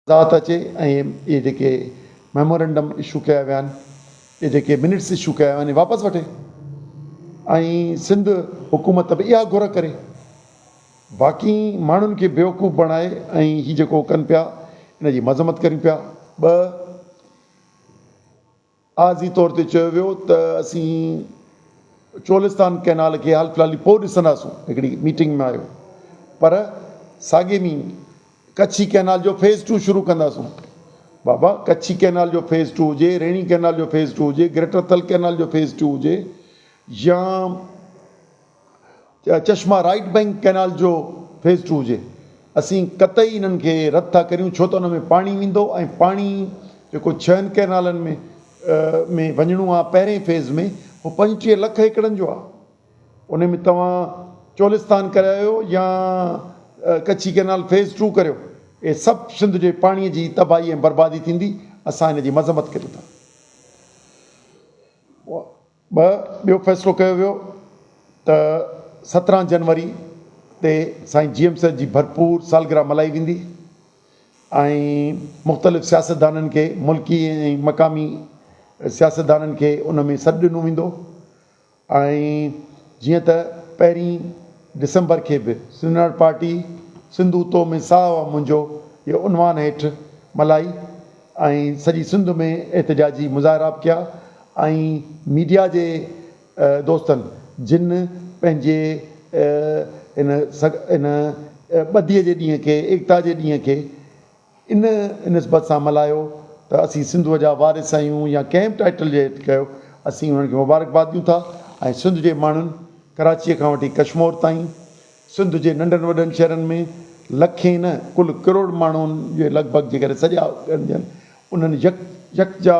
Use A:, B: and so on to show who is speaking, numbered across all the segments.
A: ذات اچي ۽ اهي جيڪي ميمورنڊم اشو ڪيا ويا آهن اهي جيڪي منٽس اشو ڪيا ويا آهن اهي واپس وٺي ۽ سنڌ حڪومت به اها گهر ڪري باقي ماڻهن کي بيوقوف بڻائي ۽ هي جيڪو ڪن پيا ان جي مذمت ڪريون پيا ٻه عارضي طور تي چيو ويو ته اسين چولستان ڪئنال کي حال فلحال پوء ڏسنداسون هڪڙي ميٽنگ ۾ آيو پر ساڳئي مي ڪڇي ڪئنال جو فيز ٽو شروع ڪنداسون بابا ڪڇي ڪئنال جو فيز ٽو هجي ريڻي ڪئنال جو فيز ٽو هجي گريٽر ٿل ڪئنال جو فيز ٽو هجي يا چاهي چشما رائيٽ بئنڪ ڪئنال جو فيز ٽو هجي اسين قطعي انهن کي رد ٿا ڪريون ڇو ته ان ۾ پاڻي ويندو ۽ پاڻي جيڪو ڇهن ڪئنالن ۾ ۾ وڃڻو آهي پهرين فيز ۾ هو پنجٽيهه لک ايڪڙن جو آهي ان ۾ توهان چولستان ڪرايو يا ڪڇي ڪئنال فيز ٽو ڪريو اهي سڀ سنڌ جي پاڻي جي تباهي ۽ بربادي ٿيندي اسان ان جي مذمت ڪريون ٿا. ٻه، ٻيو فيصلو ڪيو ويو ته سترهن جنوري تي سائين جي ايم سيد جي ڀرپور سالگرهه ملهائي ويندي ۽ مختلف سياستدانن کي ملڪي ۽ مقامي سياستدانن کي ان ۾ سڏ ڏنو ويندو ۽ جيئن ته پهرين ڊسمبر کي به سنڌناٽ پارٽي سنڌو تو ۾ ساهه منهنجو جي عنوان هيٺ ملهائي ۽ سڄي سنڌ ۾ احتجاجي مظاهرا به ڪيا ۽ ميڊيا جي دوستن جن پنهنجي ان ان ٻڌي جي ڏينهن کي ايڪتا جي ڏينهن کي ان نسبت سان ملهايو ته اسين سنڌوء جا وارث آهيون يا ڪنهن به ٽائيٽل جي هيٺ ڪيو اسين انهن کي مبارڪباد ڏيون ٿا ۽ سنڌ جي ماڻهن ڪراچيء کان وٺي ڪشمور تائين سنڌ جي ننڍن وڏن شھرن ۾ لکين نه ڪل ڪروڙ ماڻھن جي لڳ ڀڳ جيڪڏھن سڄا ڳڻجن انھن يڪ يڪجا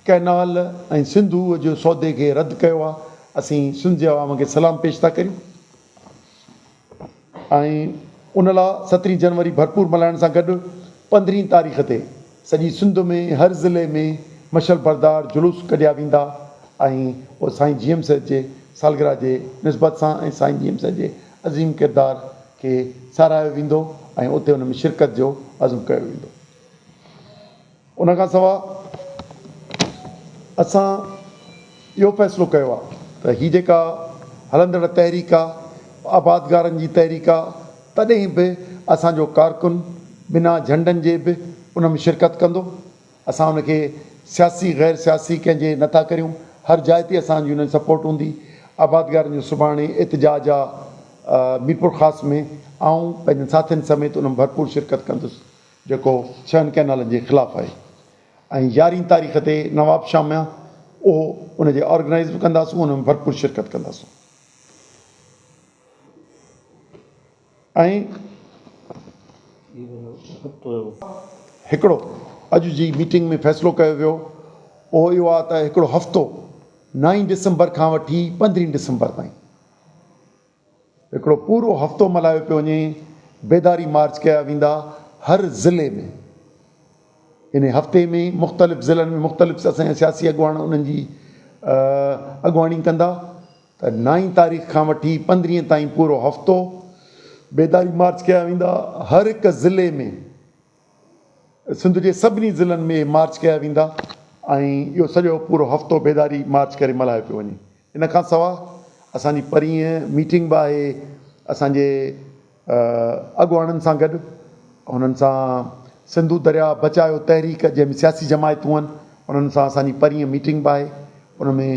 A: ڪئنال ۽ سنڌوء جي سودي کي رد ڪيو آ اسين سنڌ جي عوام کي سلام پيش ٿا ڪريون ۽ ان لا سترھين جنوري ڀرپور ملھائڻ سان گڏ پندرھين تاريخ تي سڄي سنڌ ۾ هر ضلعي ۾ مشعل بردار جلوس ڪڍيا ويندا ۽ سائين جي ايم سيد جي سالگرهه جي نسبت سان ۽ سائين جي ايم سيد جي عظيم ڪردار کي ساراهيو ويندو ۽ اتي ان ۾ شرڪت جو عزم ڪيو ويندو. ان کان سواء اسان اهو فيصلو ڪيو آهي ته هي جيڪا هلندڙ تحريڪ آهي آبادگارن جي تحريڪ آهي تڏهن به اسان جو ڪارڪن بنا جهنڊن جي به ان ۾ شرڪت ڪندو. اسان ان کي سياسي غير سياسي ڪنهن جي نه ٿا ڪريون. هر جاء تي اسان جي انهن سپورٽ هوندي. آبادگارن جو سڀاڻي احتجاج آ ميرپورخاص ۾ آئون پنهنجن ساٿين سميت ان ۾ ڀرپور شرڪت ڪندس جيڪو ڇهن ڪئنالن جي خلاف آهي ۽ يارهين تاريخ تي نوابشاهه ۾ اهو ان جي آرگنائيز به ڪنداسون ان ۾ ڀرپور شرڪت ڪنداسون. هڪڙو اڄ جي ميٽنگ ۾ فيصلو ڪيو ويو اهو اهو آهي ته هڪڙو هفتو نائين ڊسمبر کان وٺي پندرهين ڊسمبر تائين هڪڙو پورو هفتو ملهايو پيو وڃي بيداري مارچ ڪيا ويندا هر ضلعي ۾ ان هفتي ۾ مختلف ضلعن ۾ مختلف اسان جا سياسي اڳواڻ انهن جي اڳواڻي ڪندا ته نائين تاريخ کان وٺي پندرهين تائين پورو هفتو بيداري مارچ ڪيا ويندا هر هڪ ضلعي ۾ سنڌ جي سڀني ضلعن ۾ اهي مارچ ڪيا ويندا ۽ اهو سڄو پورو هفتو بيداري مارچ ڪري ملهايو پيو وڃي ان کان سوا اسان جي پرينهن ميٽنگ به آهي اسان جي اڳواڻن سان گڏ هنن سان سنڌو دريا بچايو تحريڪ جنهن ۾ سياسي جماعتون آهن انهن سان اسان جي پرينهن ميٽنگ به آهي ان ۾